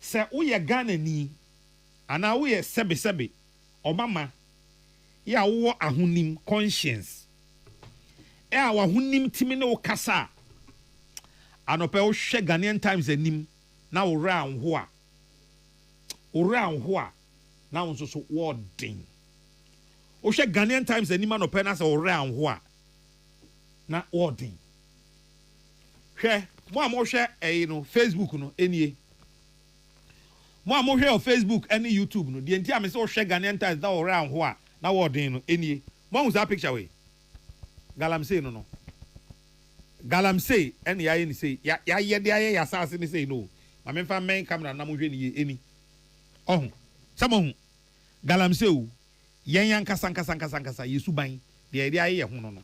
Sɛ woyɛ Ghanani anaa woyɛ sɛbesɛbe ɔmama yi a wowɔ ahonim, conscience, a w'ahonim tumi ne wo kasa a, anɔpa yi wohwɛ Ghanaian Times anim na wo werɛ anho a, wo werɛ anho a, na wo nso so wɔɔden. Wohwɛ Ghanaian Times anim anɔpa yi na sɛ wo werɛ anho a, na wɔɔden. Hwɛ, mo a mohwɛ ɛyi no, Facebook no, enie. Mo a mohwɛ wɔ Facebook ɛne YouTube no, deɛ nti a mese wohwɛ Ghanaian Times na wɔwerɛ anho a na wɔɔden no, enie. Moahu saa picture wei? Galamsey no no. Galamsey ɛne yɛayɛ no sei, ya, yɛayɛ de ayɛ yɛn asaase no sei no o. Ma memfa mmɛn camera no na monhwɛ no yie, eni. Ɔho? Sɛ moahu? Galamsey o, yɛn ankasa ankasa ankasa ankasa, yɛn suban, deɛ yɛde ayɛ yɛn ho no no.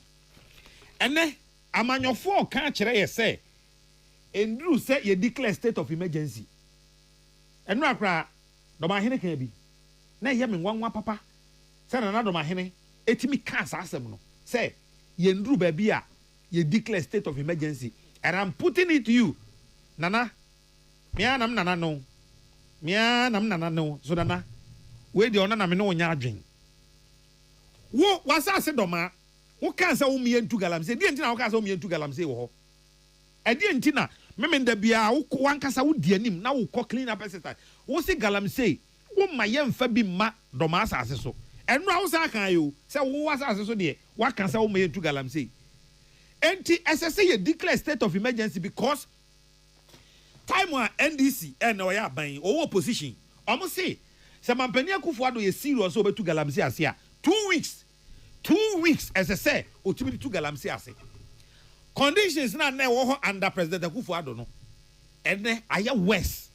Ɛnnɛ, Amanyɔfoɔ ka akyerɛ yɛ sɛ ɛnduru sɛ yɛ declare state of emergency. Ɛnora koraa Dɔmahene kaa bi na ɛyɛ me nwanwa papa sɛ Nana Dɔmahene tumi kaa saa asɛm no sɛ yɛnduru baabi a yɛ declare state of emergency and I'm putting it to you Nana me ara na me Nana no me ara na me Nana no so Nana wei deɛ ɔno na me ne wo nyɛ adwen wo w'asase Dɔmaa Wokaa sɛ wommea ntu galamsey. Deɛn nti na wokaa sɛ wommea ntu galamsey wɔ hɔ? Ɛdeɛn nti na Meme da biara wokɔ, w'ankasa wodi anim na wokɔ clean up exercise. Wose galamsey, womma yɛmfa bi mma Dɔmaa asase so. Ɛnora wosan akaeɛ o, sɛ wo asase so deɛ woaka sɛ womma yɛntu galamsey. Enti ɛsɛ sɛ yɛ declare state of emergency because time a NDC, ɛnna ɔyɛ aban yi, ɔwɔ opposition, wɔn se sɛ Mampanin Akuffo Addo yɛ serious sɛ ɔbɛtu galamsey ase a, two weeks Two weeks ɛsɛ sɛ ɔtumi de tu galamsey ase. Conditions no a na ɛwɔ hɔ under President Akuffo Addo no, ɛnnɛ ayɛ worse.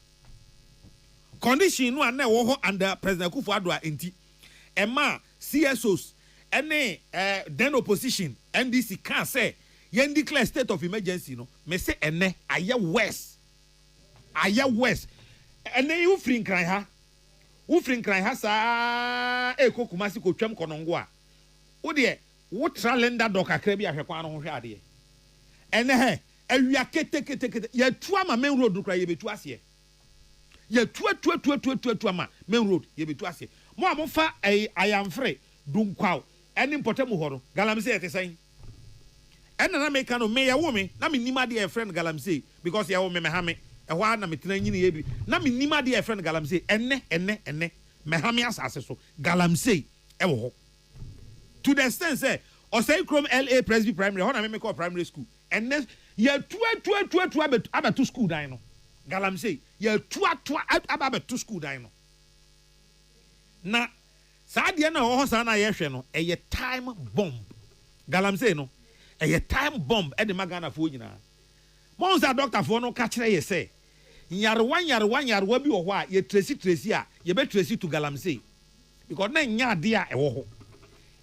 Condition no a na ɛwɔ hɔ under President Akuffo Addo a ɛnti ɛmaa CSOs ne eh, then opposition NDC kaa sɛ yɛn declare state of emergency no, me se ɛnnɛ ayɛ worse. Ayɛ worse. Ɛnnɛ yi wofiri Nkran ha Wofiri Nkran ha saa ara rekɔ Kumasi kɔtwam kɔ Nongo a, wo deɛ wotra Linda Door kakra bi a hwɛ kwan no ho hwɛ adeɛ. Ɛnnɛ hɛ, awia keteketekete, yɛatu ama Main Road no koraa yɛbɛtu aseɛ. Yɛatuatuatuatuatuatu ama Main Road, yɛbɛtu aseɛ. Mo a mofa Ayamfre, Dunkwaw ne Mpɔtamu hɔ no, Galamsey te sɛn? Ɛna na meka no me yɛwo me na mennim adeɛ a yɛfrɛ no galamsey because yɛwo me mɛhame ɛhɔ ara na metena nyiniiɛ bi na mennim adeɛ a yɛfrɛ no galamsey ɛnnɛ ɛnnɛ ɛnnɛ mɛhame asase so galamsey ɛwɔ hɔ to the extent sɛ ɔsɛe krom LA presby primary ɛhɔ na me mekɔɔ primary school ɛnnɛ yɛatuatuatuatu abɛtu abɛto school dan no galamsey yɛatuatua aba abɛto school dan no na Saa adeɛ no a ɛwɔ hɔ saa no a yɛhwɛ no, ɛyɛ time bomb. Galamsey no, ɛyɛ time bomb de ma Ghanafoɔ nyinaa. Moahu sɛ adɔktafoɔ no ka kyerɛ yɛ sɛ, nyarewa nyarewa nyarewa bi wɔ hɔ a, yɛ tresi tresi a, yɛbɛ tresi to Galamsey. Because na ɛnyɛ adeɛ a ɛwɔ hɔ.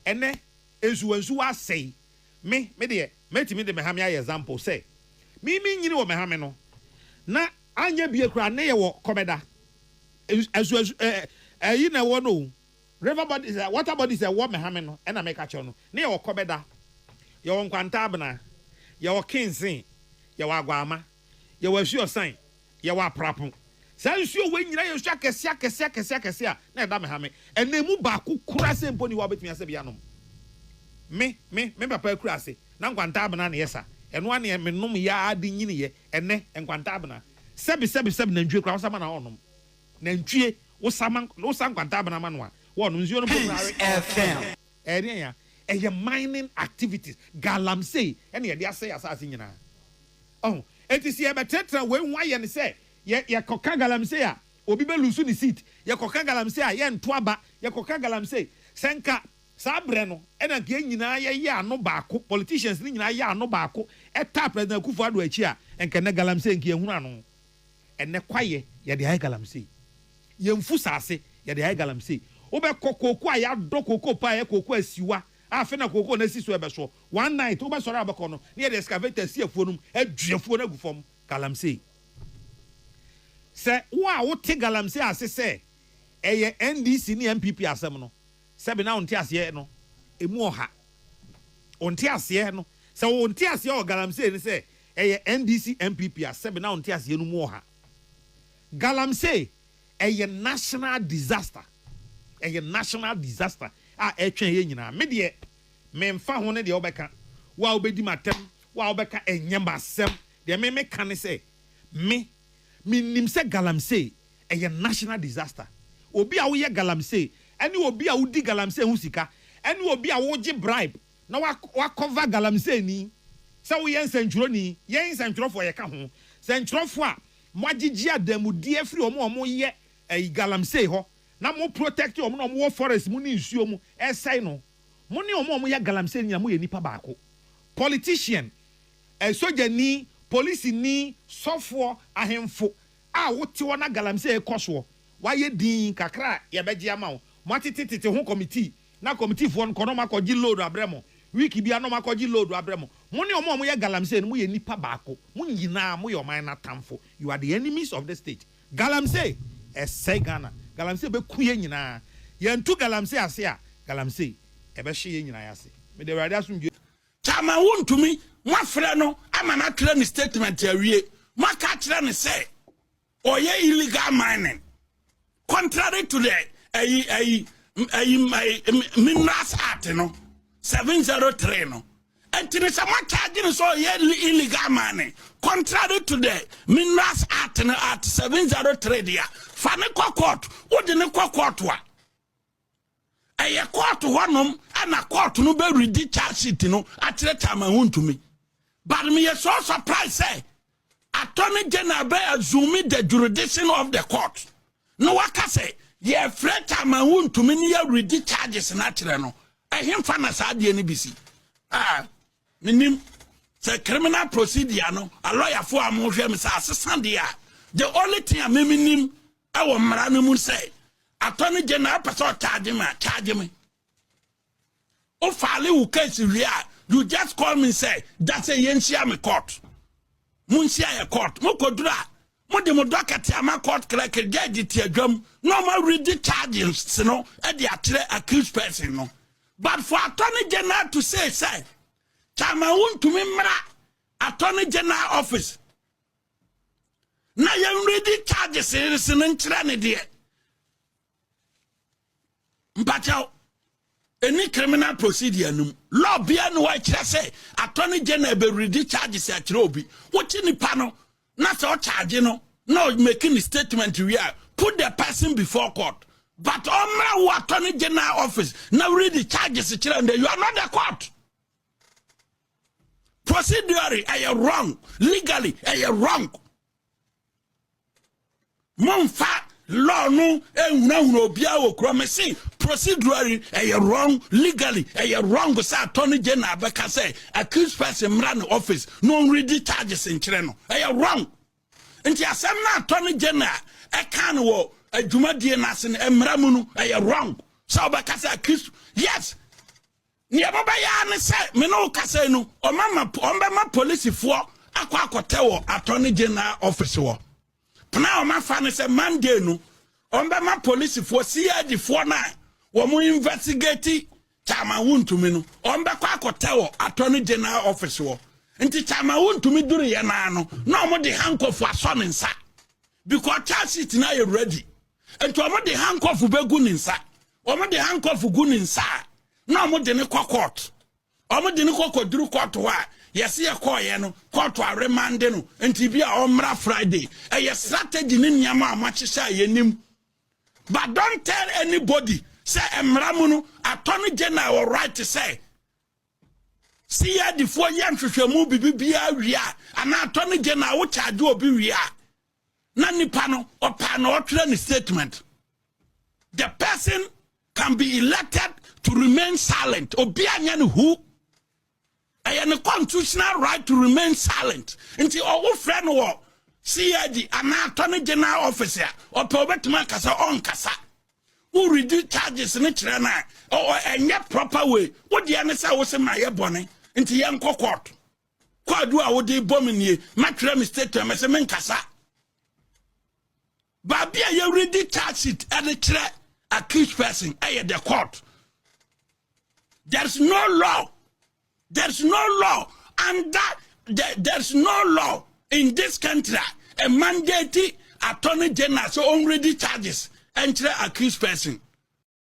Ɛnɛ, nsuwa nsuwa asɛe. Me, me deɛ, mɛtumi de mɛhame ayɛ example sɛ, me me nyini wɔ mɛhame no, na anyɛ bie koraa, nnɛ yɛwɔ kɔmɛda. Asuasu ɛ ɛ ɛyi na ɛwɔ no o. River bodies ɛ water bodies a ɛwɔ Mehame no na meka kyerɛ wo no. Ne yɛwɔ Kɔbɛda, yɛwɔ Nkwantaabena, yɛwɔ Kinsee, yɛwɔ Aguaama, yɛwɔ Asuosan, yɛwɔ Aprapo. Saa nsuo wei nyinaa yɛ nsuo akɛseɛ akɛseɛ akɛseɛ akɛseɛ a na ɛda Mehame. Ɛnna ɛmu baako koraa sei mpo nni hɔ a wobɛtumi asɛ bi anom. Me, me, me papa akuraase, na Nkwantaabena na ɛyɛ sa. Ɛno ara na menom yɛ ara de nyiniiɛ. Ɛnnɛ, nkwanta abena. Sɛbi, sɛbi, sɛbi, nantwie koraa, wosa ma no a, ɔnnom. Nantwie, wosa ma, wosa nkwanta abena ma no a, wɔnnom. Nsuo no mpo koraa, we, ɔnnom bi. Ɛyɛ deɛn ya? Ɛyɛ mining activities, galamsey, ɛna yɛde asɛe yɛn asase nyinaa. Ɔho? Enti sɛ yɛbɛtrɛtrɛ wei ho ayɛ no sɛ, yɛ, yɛkɔka galamsey a, obi bɛ lose ne seat, yɛkɔka galamsey a, yɛnto aba, yɛkɔka galamsey, sɛ nka. Saa berɛ no na nka yɛn nyinaa yɛyɛ ano baako, politicians no nyinaa yɛ ano baako taa President Akuffo Addo akyi a, nka ɛnnɛ Galamsey nka yɛnhunu ano. Ɛnnɛ kwaeɛ yɛde ayɛ Galamsey. Yɛn mfusaase yɛde ayɛ Galamsey. Wobɛkɔ kooko a yɛadɔ kooko paa yɛ kooko asiwa a afei na kooko no asi so ɛbɛso. One night wobɛsɔre a wobɛkɔ no na yɛde excavator asi afuo no mu adwi afuo no agu fam. Galamsey. Sɛ wo a wote Galamsey ase sɛ ɛyɛ NDC ne NPP asɛm no, Sɛbe na wo nteaseɛ no ɛmu ɔha. Wo nteaseɛ no, sɛ wo nteaseɛ wɔ galamsey no sɛ ɛyɛ NDC NPP a, sɛbe na wo nteaseɛ no mu ɔha. Galamsey ɛyɛ national disaster, ɛyɛ national disaster a ɛtwɛn yɛn nyinaa. Me deɛ, menfa ho ne deɛ wobɛka, wo a wobɛdi m'atɛm, wo a wobɛka, ɛnyɛ m'asɛm. Deɛ me meka ne sɛ, me, menim sɛ galamsey Ɛyɛ national disaster. Obi a woyɛ galamsey ɛne obi a wodi galamsey ho sika ɛne obi a wogye bribe na woakɔva galamseyni sɛ woyɛ nsɛntwerɛni, yɛn nsɛntwerɛfoɔ yɛka ho, sɛntwerɛfoɔ a moagyegye adanmudeɛ afiri wɔn a wɔyɛ ɛyi galamsey hɔ na mo protect wɔn na wɔn wɔ forest mu ne nsuo mu ɛresɛe no. Mo ne wɔn a wɔyɛ galamsey no nyinaa moyɛ nnipa baako. Politician, sogyani, polisini, sɔfoɔ, ahemfo, a wote hɔ na galamsey rekɔ soɔ, woayɛ dinn kakra a yɛbɛgye ama wo. Moatete tete ho kɔmitii, na kɔmitiifoɔ no kɔ na wɔakɔgye load abrɛ mo. Week biara na wɔakɔgye load abrɛ mo. Mo ne wɔn a wɔyɛ galamsey no, moyɛ nnipa baako. Mo nyinaa moyɛ ɔman no atamfo. You are the enemies of the state. Galamsey ɛsɛe Ghana. Galamsey bɛku yɛn nyinaa. Yɛantu galamsey ase a, galamsey ɛbɛhye yɛn nyinaa ase. Mede Awurade asomdwoeɛ. Chairman wontumi, moafrɛ no ama no atwerɛ ne statement awie, moaka akyerɛ no sɛ ɔyɛ illegal mining contrary to the ayi ayi ayi minerals act no 703 no ɛnti ne sɛ moakyagye no sɛ ɔyɛ illegal mining contrary to the minerals act no act 703 deɛ fa ne kɔ court wode ne kɔ court a ɛyɛ kɔɔto hɔnom ɛna kɔɔto no bɛredi charge sheet no akyerɛ chairman ho ntumi but meyɛ so surprise sɛ attorney general bɛ assume the jurisdiction of the court na waka sɛ yɛfrɛ chairman ho ntumi ne yɛredi charges no akyerɛ no ɛhemfa na saa adeɛ no bi si ah. Menim sɛ criminal procedure no alɔyafoɔ a mohwɛ me sɛ asesa deɛ a the only thing a meme nim ɛwɔ mmara no mu sɛ atɔ no gye na ɛpɛ sɛ ɔkyagye me a kyagye me wofaale wo case wie a you just call me sɛ da sɛ yɛnhyia me court monhyia yɛ court mokɔduru a Mo de mo dɔ kɛtɛ ama court clerk judge te adwam na ɔma ready charges no de akyerɛ accused person no. But for attorney general to say sɛ chairman wontumi mmra attorney general office na yɛn ready charges no nkyerɛ ne deɛ mpakyɛw ɛni criminal procedure no mu law bia ne hɔ ɛkyerɛ sɛ attorney general bɛwuridi charges akyerɛ obi wokye nipa no na sɛ ɔcharge no na ɔmaki ne statement wie a put the person before court but ɔmmra wo attorney general office na wuridi charges kyerɛ ndɛ you are not the court procedurally ɛyɛ wrong legally ɛyɛ wrong momfa law no nhunahuna obiara wɔ kura me se procedurally ɛyɛ wrong legally ɛyɛ wrong sɛ attorney general bɛka sɛ accused person mmra ne office na ɔnredi charges nkyerɛ no ɛyɛ wrong nti asɛm no attorney general ɛka no wɔ adwumadie no ase no mmara mu no ɛyɛ wrong sɛ ɔbɛka sɛ accused yes Nea ɛbɛyɛ ara ne sɛ me ne wo kasa yi no, wɔbɛma polisifoɔ akɔ akɔtɛ wɔ attorney general office hɔ. Pena a wɔafa ne sɛ Monday no, wɔbɛma polisifoɔ, CID foɔ no a wɔn investigate Chairman Wontumi no, wɔbɛkɔ akɔtɛ wɔ attorney general office hɔ. Nti Chairman Wontumi duruyɛ no ara no, na wɔde handcuff asɔ ne nsa because charge sheet no ayɛ ready. Nti wɔde handcuff bɛgu ne nsa. Wɔn de handcuff gu ne nsa a na wɔn de ne kɔ court. Wɔn de ne kɔ kɔduru court hɔ a yɛsi yɛ kɔɔyɛ no court aremande no nti bi a ɔmmra Friday. Ɛyɛ strategy ne nneɛma a wɔahyehyɛ a yɛnim. But don't tell anybody sɛ mmara mu no attorney general wɔ right sɛ CID foɔ yɛ nhwehwɛmu bibi biara wie a anaa attorney general wo charge obi wie a na nipa no ɔpaa na ɔtwerɛ ne statement the person can be elected to remain silent obi anyɛ ne hu ɛyɛ ne constitutional right to remain silent nti ɔwo frɛ no wɔ cid anaa attorney general office a ɔpɛ ɔbɛtumi akasa ɔnkasa wo redi charges ne kyerɛ no a ɛnyɛ proper way wodeɛ ne sɛ wo se ma yɛ bɔne nti yɛnkɔ court Kwaadu a wode rebɔ me nie. Mɛtwerɛ me statement mɛsɛ menkasa. Baabi a yɛredi charge sheet de kyerɛ accused person ɛyɛ the court. There's no law. There's no law under the, there's no law in this country a mandate attorney general so ɔnredi charges ɛnkyerɛ accused person.